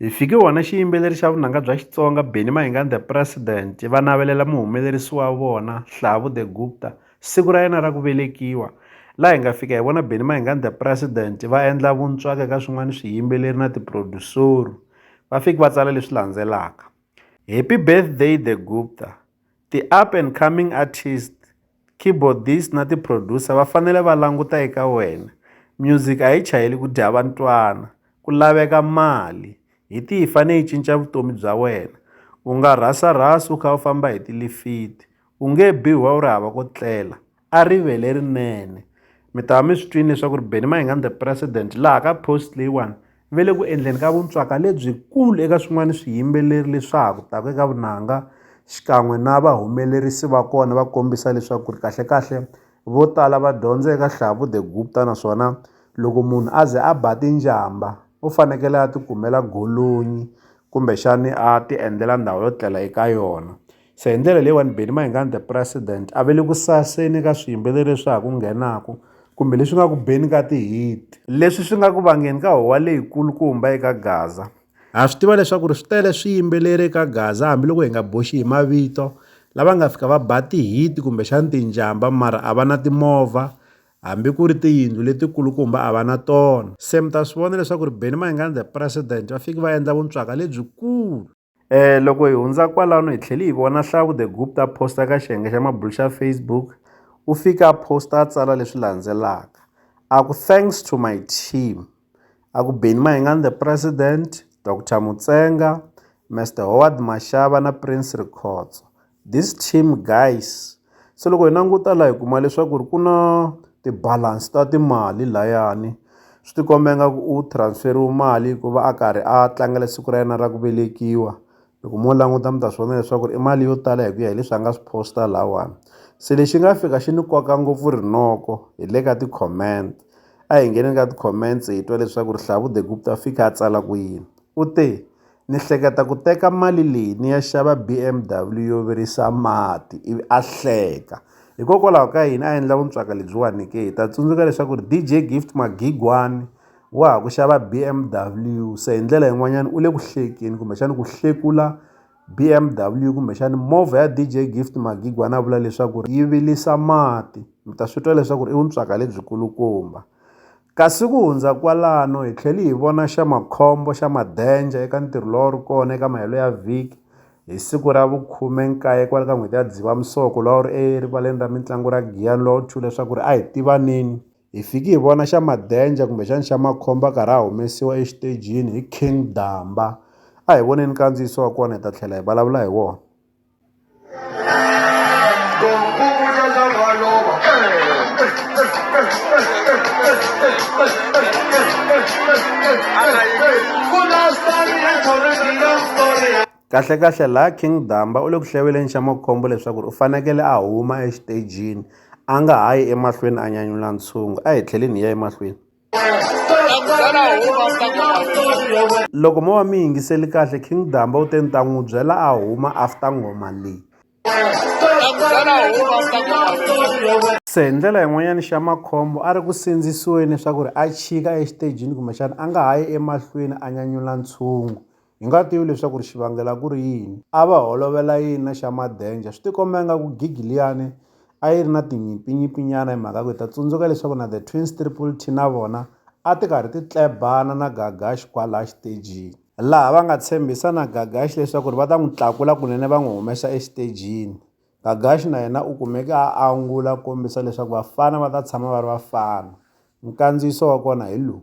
Hi fike wona xiyimbeleri xa vunanga bya Xitsonga Benny Mayengani The President va navelela muhumelerisi wa vona Hlavu The Gupta siku ra yena ra ku velekiwa laha hi nga fika hi vona Benny Mayengani The President va endla vuntswaka ka swin'wana swiyimbeleri na tiproducer-u va fiki va tsala leswi landzelaka Happy birthday The Gupta ti-up and coming artist Keyboardist na ti-producer va fanele va languta eka wena music a yi chayeli ku dya vantwana ku laveka mali hi tihi yi fanele yi cinca vutomi bya wena u nga rhasa rhasi u kha u famba hi tilifiti u nge bi wa u ri hava ko tlela a rivele rinene mi ta va mi swi twini leswaku ri Benny Mayengani the president laha ka post leyiwani ve le ku endleni ka vuntswaka lebyikulu eka swin'wana swiyimbeleri leswa ha ku taka eka vunanga xikan'we na vahumelerisi va kona va kombisa leswaku ri kahlekahle vo tala va dyondza eka Hlavu the Gupta naswona loko munhu a ze a ba tinjamba u fanekele a tikumela golonyi kumbexani a ti endlela ndhawu yo tlela eka yona. se hi ndlela leyiwani beni mayingani the president a ve le ku saseni ka swiyimbeleri leswi ha ku nghenaka kumbe leswi nga ku beni ka ti-hit leswi swi nga ku vangeni ka howa leyikulukumba eka gaza ha swi tiva leswaku ri swi tele swiyimbeleri eka gaza hambiloko hi nga boxi hi mavito lava nga fika va ba ti-hit kumbexani tinjhamba mara a va na timovha hambi ku ri tiyindlu letikulukumba a va na tona se mi ta swi vona leswaku ri beni mayingani the president va fiki va endla vuntswaka lebyikulu Eh loko hi hundza kwalano hi tlhele hi vona Hlavu the Gupta a posta eka xiyenge xa mabulu xa Facebook. U fike a posta a tsala leswi landzelaka, a ku thanks to my team, a ku Benny Mayengani the president, Doctor Mutsenga, Mister Howard Mashava na Prince Rikhotso, This team guys se loko hi languta la hi kuma leswaku ri ku na ti-balance ta timali layani swi ti komba ingaku u transfer-iwe mali ku va a karhi a tlangela siku ra yena ra ku velekiwa loko mo languta mi ta swi vona leswaku ri i mali yo tala hi ku ya hi leswi a nga swi post-a lawani se lexi nga fika xi ni koka ngopfu rinoko hi le ka ti-comment a hi ngheneni ka ti-comments hi twa leswaku ri Hlavu the Gupta fika a tsala ku yini u te. ni hleketa ku teka mali leyi ni ya xava B_M_W yo virisa mati ivi a hleka hikokwalaho ka yini a endla vuntswaka lebyiwani ke hi ta tsundzuka leswaku ri D_J Gift Magigwani wa ha ku xava B_M_W se hi ndlela yin'wanyana u le ku hlekeni kumbexani ku hlekula B_M_W kumbexani movha ya D_J Gift Magigwani a vula leswaku ri yi vilisa mati mi ta swi twa leswaku ri i vuntswaka lebyi kulukumba Kasi ku hundza kwalano, hi tlheli hi vona xa makhombo xa Madenja eka ntirho lowu a wu ri kona eka mahelo ya vhiki hi siku ra vu khume nkaye kwale ka n'hweti ya Dzivamisoko lowu a wu ri erivaleni ra mintlangu ra Giyani lowu a wu thyu leswaku ri a hi tivaneni. Hi fiki hi vona xa Madenja kumbe xani xa makhombo a karhi a humesiwa exitejini hi King Damba. A hi voneni nkandziyiso wa kona hi ta tlhela hi vulavula hi wona. kahlekahle laha king damba u le ku hleveleni xa makhombo leswaku u fanekele a huma exitejini a nga ha yi emahlweni a nyanyula ntshungu a hi tlheleni hi ya emahlweni loko mo va mi yingiseli kahle king damba u te ni ta n'wi byela a huma after nghoma leyi se hi ndlela yin'wanyana xa makhombo a ri ku sindzisiweni leswaku ri a chika exitejini kumbexana a nga ha yi emahlweni a nyanyula ntshungu Hi nga tivi leswaku ri xivangela ku ri yini. A va holovela yini na xa Madenja? Swi tikomba ingaku gigi liyani a yi ri na tinyimpinyimpinyana hi mhaka ku hi ta tsundzuka leswaku na The Twins Triple T na vona a ti karhi ti tlebana na Gagash kwalaya xitejini, laha va nga tshembisa na Gagash leswaku ri va ta n'wi tlakula kunene va n'wi humesa exitejini. Gagash na yena u kumeke a angula a kombisa leswaku vafana va ta tshama va ri vafana. Nkandziyiso wa kona hi lowu.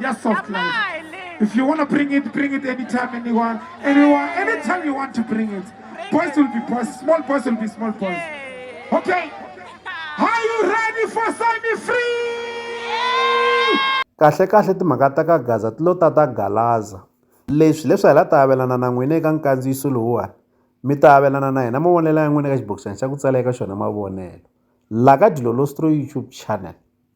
Yeah, soft life. If you want to bring it, bring it anytime, anyone, anyone, anytime you want to bring it. Boys will be boys, small boys will be small boys. Okay. Are you ready for semi free? kahle kahle timhaka ta ka gaza ti lo ta ta galaza leswi leswi hi la ta avelana na n'wina eka nkandziyiso lowuwani mi ta avelana na hina mavonelo ya n'wina eka xibokisana xa ku tsala eka xona mavonelo la ka dilolostro youtube channel